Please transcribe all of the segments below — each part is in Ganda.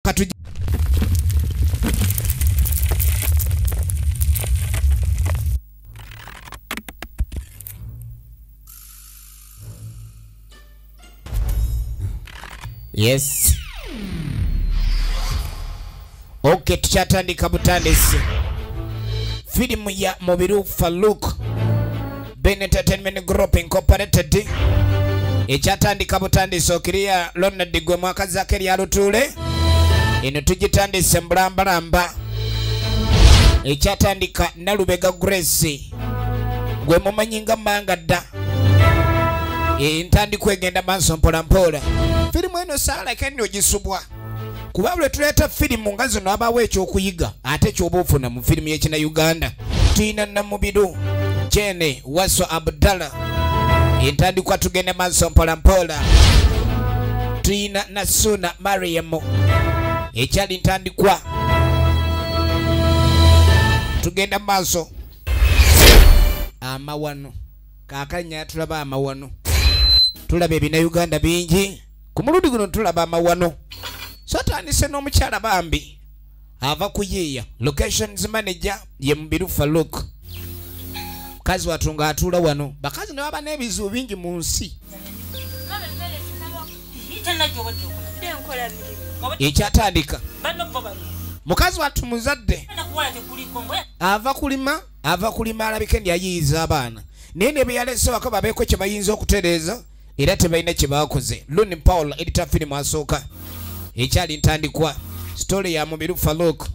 katujje yes ok tukyatandika butandisi firimu ya mubiru faluk Ben Entertainment Group Incorporated ekyatandika butandisi okiriya Ronald gwe mwaka zake lya lutuule eno tugitandise mbulambalamba ekyatandika Nalubega Grace gwe mumanyi nga manga dda entandikwa egenda maaso mpolampola firimu eno saalake nno gisubwa kuba lwe tuleeta firimu nga zino abawo ekyokuyiga ate kyoba ofuna mu firimu yekina uganda tuyina namubiru jene waso abdallah entandikwa tugende maaso mpolampola tuyina nasuuna mariamu ekyali ntandikwa tugenda maaso amawano kakanya tulaba amawano tulaba ebina uganda bingi ku mulundi guno tulaba amawano so atandise n'omukyala bambi ava kuyiiya locations manager ye mubirufa luk mukazi watu nga atuula wano bakazi ne baba n'ebizibu bingi mu nsi ekyatandika mukazi watu muzadde ava kulima ava kulima alabike ndi ayiyiza abaana naye ne beyalese wako babeeko kye bayinza okutereeza era tebalina kye baakoze luni paul edita firimu asooka ekyali ntandikwa sitole ya mubiru faluk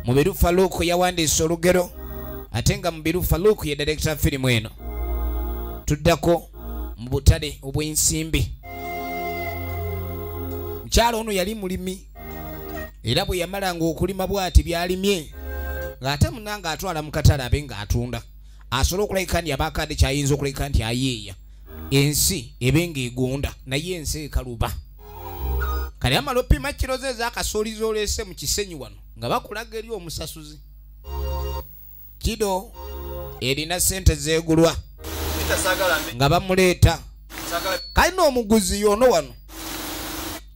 mubiru faluk yawandiisa olugero ate nga mubiru faluk ye direkita firimu eno tuddako mu butale obw'ensimbi mukyalo ono yali mulimi era bwe yamalanga okulima bw'ati by'alimye ng'ate munanga atwala mu katale abe ng'atunda asobola okulabika nti abaako ate kyayinza okulabika nti ayeeya ensi ebe ng'egunda naye ensi ekaluba kale amala opima kiro ze ezakasuuliza oleese mu kisenyi wano nga bakulaga eri omusasuzi kido erina sente zegulwa nga bamuleeta kalina omuguzi yono wano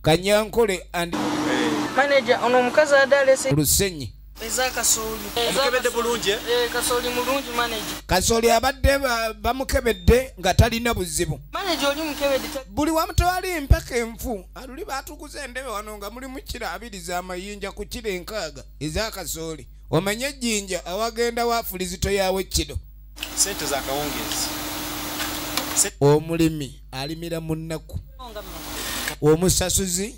kanyankole and manager ono omukazi adalese lusenyi eza kasooli omukebedde bulungi eh? Eh, kasooli mulungi maneja kasooli abadde bamukebedde nga talina buzibu maneja oli mukebedde buli wamutwali empaka enfu aluli batukuza endebe wano nga mulimu kira abiri za mayinja ku kira enkaaga eza kasooli omanye ejjinja awagenda waafulizito yaawe kino sente za kawungeezi omulimi alimira mu nnaku omusasuzi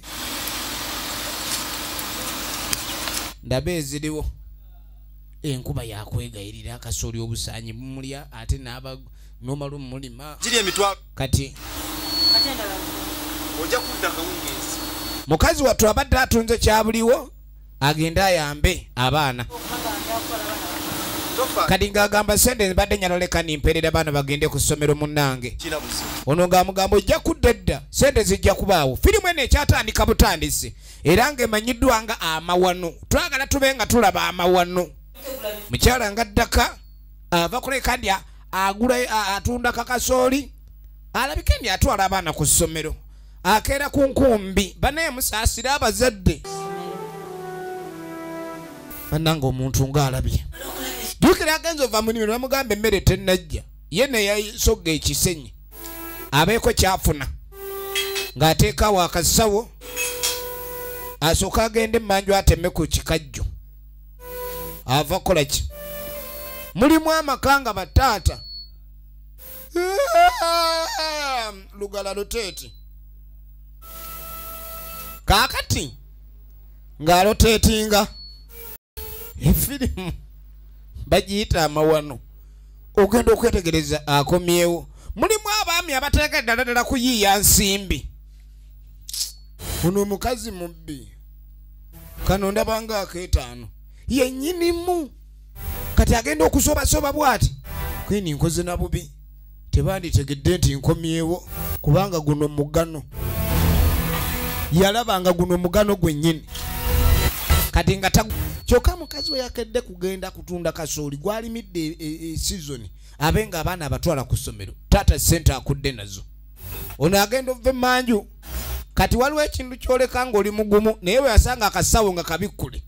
ndaba eziriwo enkuba yakwegayirira akasooli obusaanyi bumulya ate naba nomalu mulima giri emitwalo kati ojja kudda kawungeezi mukazi wattu abadde atunze kyabuliwo agende ayambe abaana kati ng'agamba sente mbadde nyaloleka nimperera baana bagende ku ssomero munnange ono ng'amugamba ojja kudda edda sente zijja kubaawo firimu eno ekyatandika butandisi era ng'emanyiddwa nga amawano twagala tube nga tulaba amawano mukyala nga ddaka ava kuleka ndi agula atunda kakasooli alabika ndi atwala abaana ku ssomero akeera ku nkumbi banaye musaasire abazadde bananga omuntu ng'alabye jukira agenza ova mu nimiro bamugamba emmere tennajja ye neyasogga ekisenyi abeeko kyafuna ng'ateekawo akasawo asooka agende emanju ateme ku kikajjo ava kukola ki mulimu amaka nga bataata lugala luteeti kaakati ng'aloteetinga efirimu bagiyita amawano ogenda okwetegereza akomyewo mulimu abaami abateeka eddala ddala kuyiiya nsimbi ono omukazi mubbi kano ndabanga akeetaano yennyinimu kati agenda okusobasoba bwati kweni nkoze na bubi tebanditegedde nti nkomyewo kubanga guno mugano yalaba nga guno mugano gwennyini kati nga kyokka mukazi we yakedde kugenda kutunda kasooli gwalimidde e, e, e, sizoni abe nga abaana abatwala ku ssomero taata sente akudde nazo ono agenda ova emanju kati waliwo ekintu kyoleka ngaoli mugumu naye bwe yasanga akasawo nga kabikkule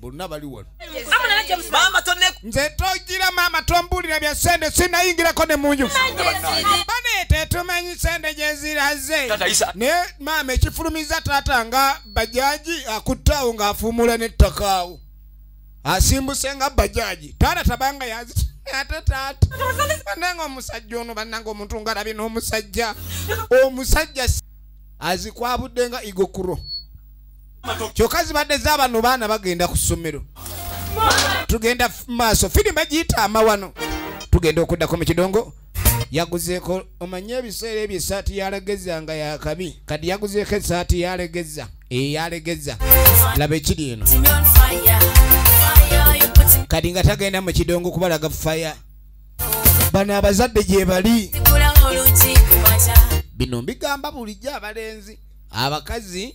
bonna bali wano nze togira maama tombuulira bya sente sinayingirako ne munju baneete tumanyi sente gyeziraze naye maama ekifulumiza taata nga bajaji akuttaawo ng'afuumuula n'ettakaawo asimbuse nga bajaji taata tabanga yazi ate taata bananga omusajja ono bananga omuntu ngalabye n'omusajja omusajja azikwabudde nga igokuro kyoka zibadde zabano baana bagenda ku ssomero tugenda maaso firimu egiyita amawano tugenda okuddako mu kidongo yaguzeeko omanye ebiseera ebyo esaati yalegeza nga yakabi kati yaguzeeko esaati yalegeza eyalegeza laba ekiri eno kati nga tagenda mu kidongo kubalaga faya bano abazadde gyebali bino mbigamba bulijjo abalenzi abakazi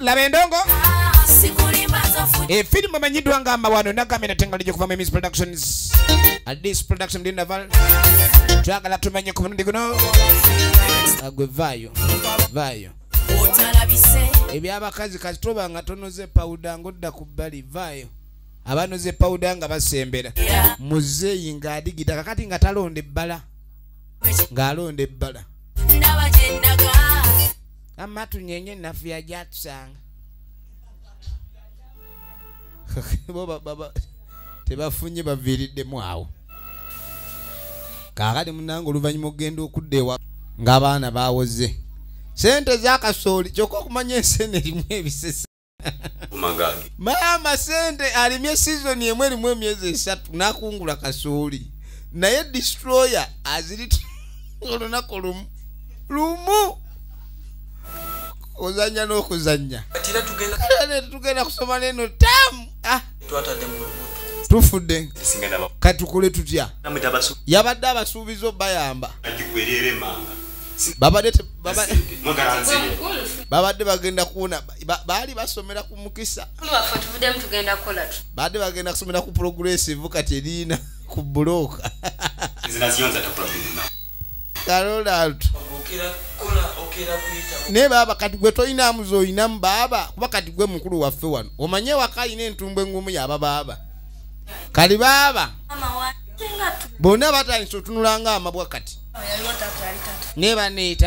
laba endongo efirimu emanyiddwa nga amawano nagambye natengali gyokuva mu emis productions adis production dinaval twagala tumanye ku mulundi guno agwe vaayo vaayo ebyabakazi kasitoba nga tonoze pawuda ngaodda ku bbali vaayo abanoze pawuda nga basembera muzeeyi ng'adigida kakati nga talonda ebbala ng'alonda ebbala amma tunyenye nafuya gyatusanga tebafunye baviiriddemu awo kaakati munange oluvannyuma okugenda okudda ewa ng'abaana bawoze sente zakasooli kyokka okumanya ensi eno erimu ebisese maama sente alimye sizoni emu erimu emyezi esatu nakungula kasooli naye distroyer azirit olunaku lumu lumu ozanya nokuzanya tugenda kusoma neno tamu ah. tufudde katukole tutya yabadde abasuubiza obayamba babadde bagenda kuwona baali basomera ku mukisa baadde bagenda kusomera ku progressive kati eriina ku bulooka karolalto naye baaba kati gwe tolinamu zolinamu baaba kuba kati gwe mukulu waffe wano omanye waka alina entumbu engumu yaba baaba kali baaba bonna batandisa otunulanga amabwa kati naye baneeta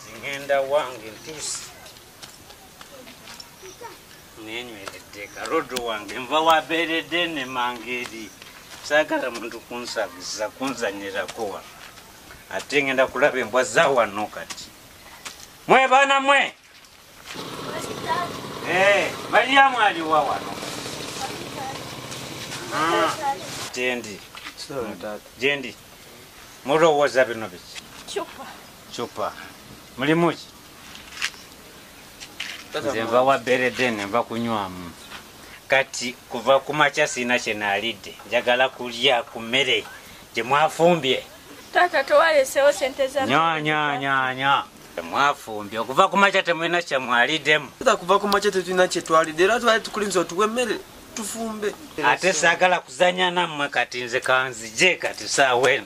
ngenda wange ntuusi nenyweredde karodo wange nva wabeeredde ne mangeeri saagala muntu kunsabiza kunzanyirako wa ate ngenda kulaba embwa za wano kati mwe baana mwe eh, mariyamu aliwa wano ah. jendi jendi mulowooza bino biki Chupa. Mulimu ki? Nze nva wa bereden nva kunywamu. Kati kuva ku makya sirina kye naalidde njagala kulya ku mmere gye mwafumbye. Taata tewaleseewo sente za nya nya nya nya mwafumbye okuva ku makya temulina kye mwaliddemu. Taata kuva ku makya tetulina kye twalidde era twali tukulinza otuwa emmere tufumbe. Ate saagala kuzannya nammwe kati nze kanzije kati saawa eno.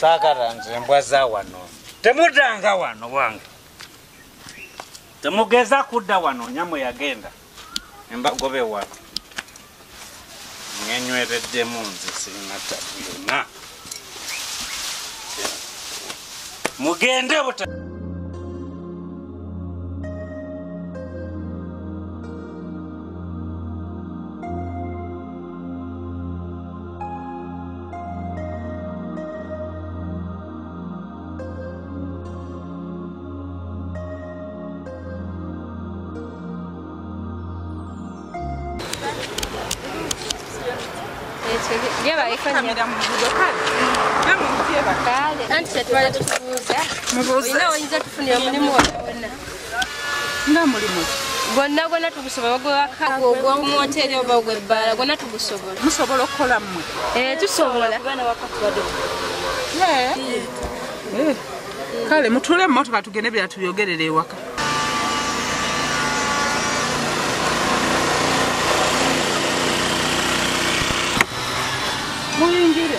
saagala nze embwa za wano temudanga wano wange Temugeza kudda wano nyamwe yagenda embagobe wa ngenywereddemu nze sirina tabu yonna mugende buta Anti kyetubadde tukubuuza. Mubuuze. Olina oyinza tufunira omulimu wonna. nga mulimu gwonna gwonna tugusobola gwewakaogwomwoteri oba ogwebbaala gwonna tugusobola musobola okukola mmwe eh, tusobola eh. Eh. kale mutule mumotoka tugende byatuyogerera ewaka muyingire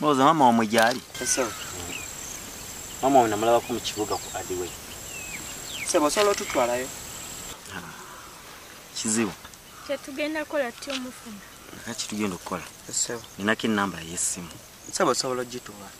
Mwoza mama wa mwijali. Sebo. Mama wa namulaba ku mkibuga ku Adiwe. Sebo solo tutwala yo. Kizibu. Kya tugenda kola tyo mufuna. Kati tugenda kola. Sebo. Ninaki namba yesimu. Sebo solo jituwa.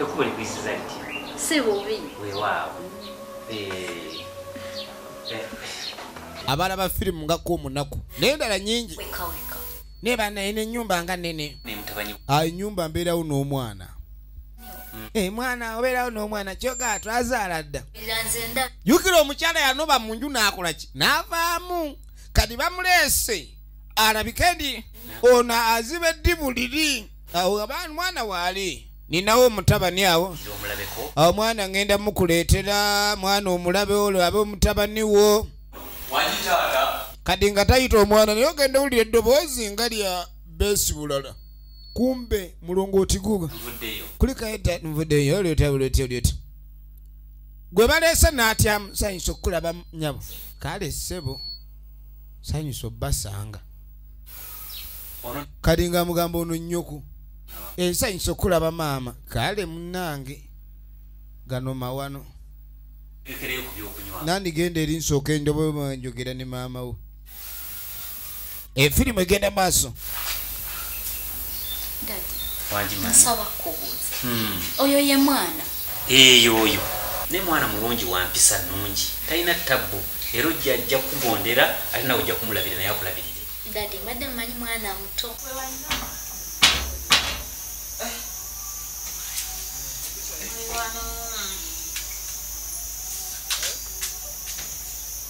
ekubo likuyisiza liti si bubi wewaawo abalaba firimu ngako omunaku naye ndala nyingi naye banaye nenyumba nga nene enyumba ah, mbeerawo n'omwana mm. eh, mwana obeerawo n'omwana kyoga twazaala dda jukira omukyala yanoba mu nju n'akolaki n'avaamu kati bamuleese alabike ndi ono aziba eddibu liri awo abaana mwana waali ninawo omutabani awo awo mwana ngenda mukuleetera mwana omulabe olwo abe omutabani wo kati nga tayita omwana naye ogenda owulira eddoboozi nga lya beesi bulala kumbe mulongo otiguga kulikaeta nvudeyo olyotyaolyotyaolyotya gwe baleese n'atyamu sanyusa okukulaba nyabo kale ssebo sanyusa obbasanga kati nga mugamba ono nnyoko ensanyusa okulaba maama kale munange gano mawano nandigenda eri nsooka endoboa njogera ne maama wo efirimu egenda maaso nsaba kubuuza hmm. oyo ye mwana Eeh oyo naye mwana mulungi wampisa nungi talina tabbu era ojja ajja kukugondera ate nawe ojja kumulabira naye akulabirire. Daddy mbadde mmanyi mwana muto.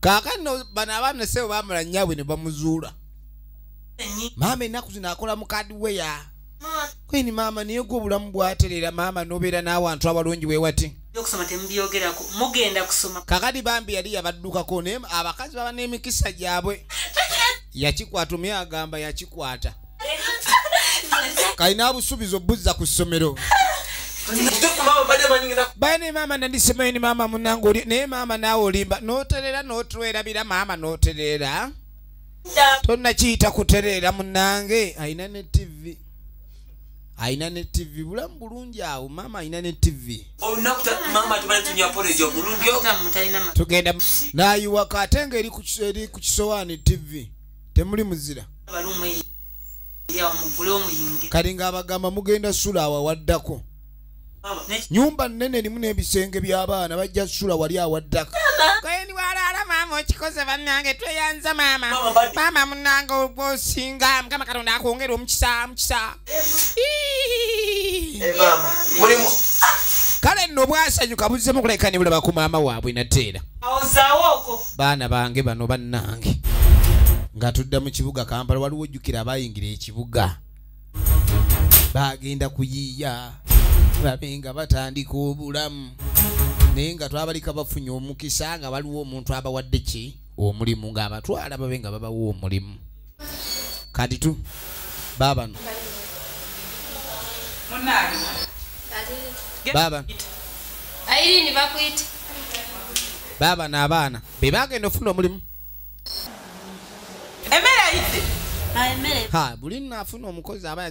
kakano bano abaana sebo bamala nyabwe ne bamuzuula maama ennaku zino akola mukadi weya kweni maama naye gwe obulamu bwaterera maama nobeera n'awantu abalungi wewati kakati bambi yali yabaddukako naye abakazi baba n'emikisa gyabwe yakikwata omye agamba yakikwata kalina abusuubiza obuzza ku ssomero bane maama nandisemayo ni maama munange naye maama naawe olimba noterera notwerabira maama noterera tonakiyita kuterera munange alina ne tv alina ne tv bulamu bulungi awo maama alina ne tv tugenda nayiwaka ate nga eri ku kisowaani tv temuli muzira kati ng'abagamba mugenda sula awawaddako nyumba nene limu n'ebisenge by'abaana bajja sula wali awaddako okikoze bannange tweyanza maama maama munange ogwosinga mukama katonda akwongere omukisa mukisa kale nno bwasanyuka buzzemu kuleka ne bulaba ku maama waabwe nateera baana bange bano bannange nga tudda mu kibuga kampala waliwo ojjukira abayingira ekibuga bagenda kuyiiya babe nga batandika obulamu naye nga twabalika bafunye omukisa nga waliwo omuntu abawadde ki omulimu ng'abatwala babe nga babawa omulimu kati tu baabano baabano baabano abaana be bagenda ofuna omulimu ha buli nafuna omukozi aba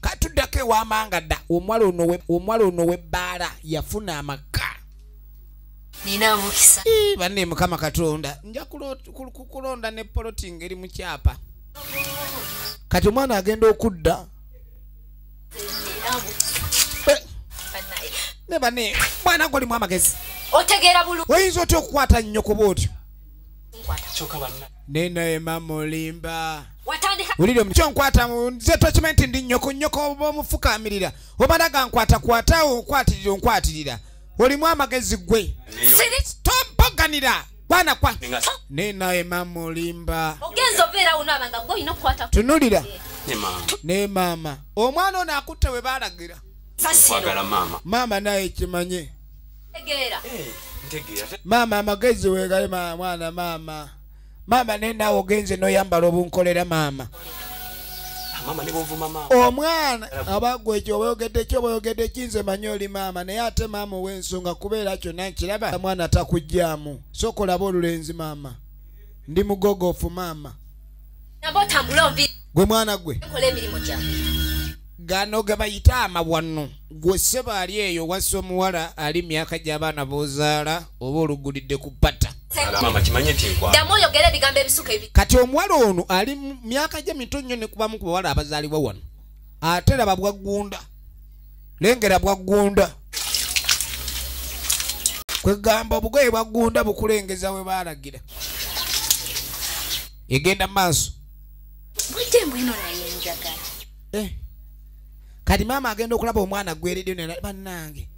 katuddako ewamanga dda omwala ono webbaala yafuna amaka banne mukama katonda nja kukulonda ne poloting eri mu kyapa kati omwana agenda okudda eh. ne bane mwana golimu amagezi oyinza otya okukwata nnyoko bwotyo neno ema mulimba wulira omuky onkwata nze tokima nti ndi nyoko nyoko oba omufukamirira omala gankwata kwata onkwatirira onkwatirira olimu amagezi gwe tompoganira bwana kwa neno ema mulimba tunulira ne maama omwana ono akutte we baalagira maama naye kimanye Ntegeera. Eh, ntegeera. Maama amagezi weegale maama mwana maama. Maama naye naawe ogenze n'oyambala obunkolera maama. omwana abagwa ekyo obaogedde ki obaogedde ki nze manyi oli maama naye ate maama ow'ensonga kubeera kyonna nkiraba mwana takugyamu sokolaba olulenzi maama ndi mugogofu maama gwe mwana gwe gano gebayita amawano gwe seba ali eyo wasa omuwala ali myaka gyabaana bozaala oba olugulidde ku pata kati omuwala ono ali myaka gye mito nnyo nekubamu ku bawala abazaalibwa wano ate laba bwaggunda lengera bwaggunda kwegamba obugoye bwaggunda bukulengeza we baalagira egenda maaso eh. kati maama agenda okulaba omwana gweredyo banange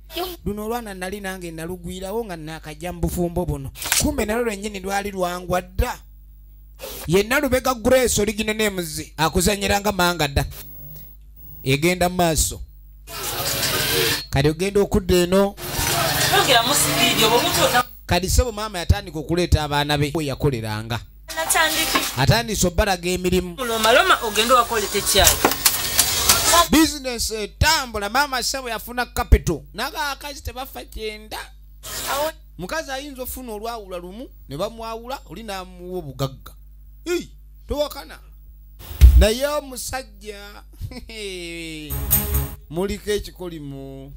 luno olwana nali nange nalugwirawo nga nakajja mu bufumbo buno kumbe nalo lwenyini lwali lwangwa dda yenna lubega grace oliginenemuzi akuzanyiranga manga dda egenda maaso kati ogenda okudda eno kati sebo maama yatandika okuleeta abaana be yakoleranga atandise obalaga emirimu bizinesi etambula maama sebo yafuna kapito nagaakazi tebafa kyenda mukazi ayinza ofuna olwawula lumu ne bamwawula oli namuwa obugagga tuwakana naye omusajja muliko ekikolimo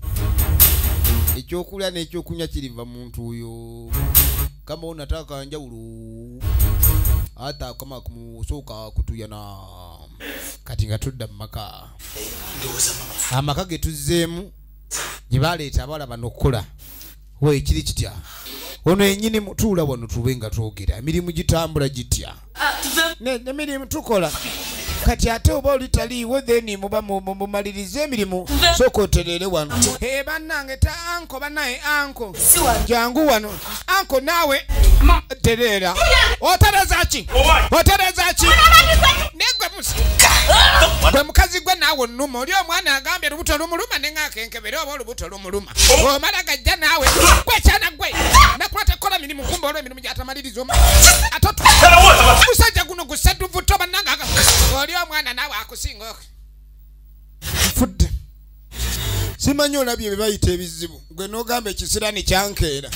ekyokulya n'ekyokunywa kiriva muntu oyo kama onataka njawulo ata kama kumusooka kutuyana kati nga tudda mu maka amaka ge tuzzeemu gye baleeta abawala bano okukola we kiri kitya ono yenyini mutuula wano tube nga twogera emirimu gitambula gitya nemirimu tukola kati ate oba olitaliiwo then muba mumalirize emirimu soka oterere wano e bannange ta anko banaye anko jangu wano anko naawe tereera otereza ki otereza ki gwe mukazi gwe naawe onuma oli omwana agambye lubuto lumuluma nengakenkebere oba olubuto muluma omala gajja naawe gwekyana gwe nakulata kola mirimu kumba olwo emirimu gyatamaliriza omu atemusajja guno gusaduvutto bannanga oli omwana naawe akusinga fudde simanyi olabye bebayita ebizibu gwe nogamba ekisirani kyankeera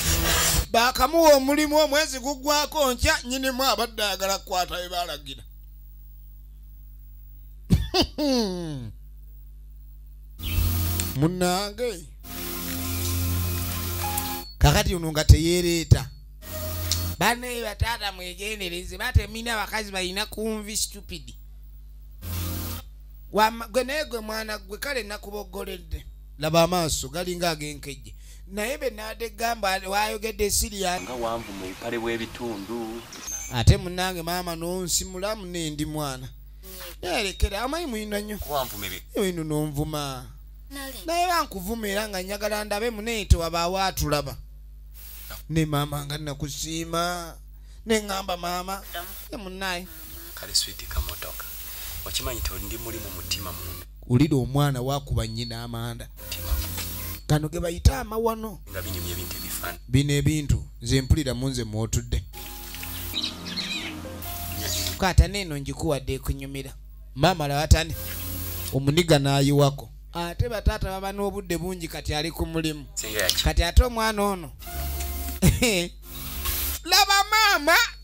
bakamuwa omulimu omwezi gugwako nkya nyinimu abadde ayagala kukwata bebalagira munange kakati ono nga teyereeta banaye bataata mwegendereze batemina abakazi balina kunvi stupid gwe naye gwe mwana gwe kale nakubogoledde laba amaaso galinga agenkejje naye benade gamba wayogedde siria nga wanvu mu bipale bw'ebitundu ate munange maama nonsimulamu nendi mwana nayalekera amanyi muyina nnyo oyino nonvuma naye bankuvuma era nga njagala ndabe munaye tewabaawo atulaba ne maama nga nakusiima neŋamba maama emunaye kale switi kamotoka okimanyi tondi muli mu mutima munda wulira omwana wakuba nyina amanda kano ge bayita amawano bino ebintu nze mpulira mu nze mwotudde kata neeno ngikuwadde ekunyumira maama lawatani omuniga nayiwako ate bataata baba n'obudde bungi kati ali ku mulimu kati ate omwana ono laba maama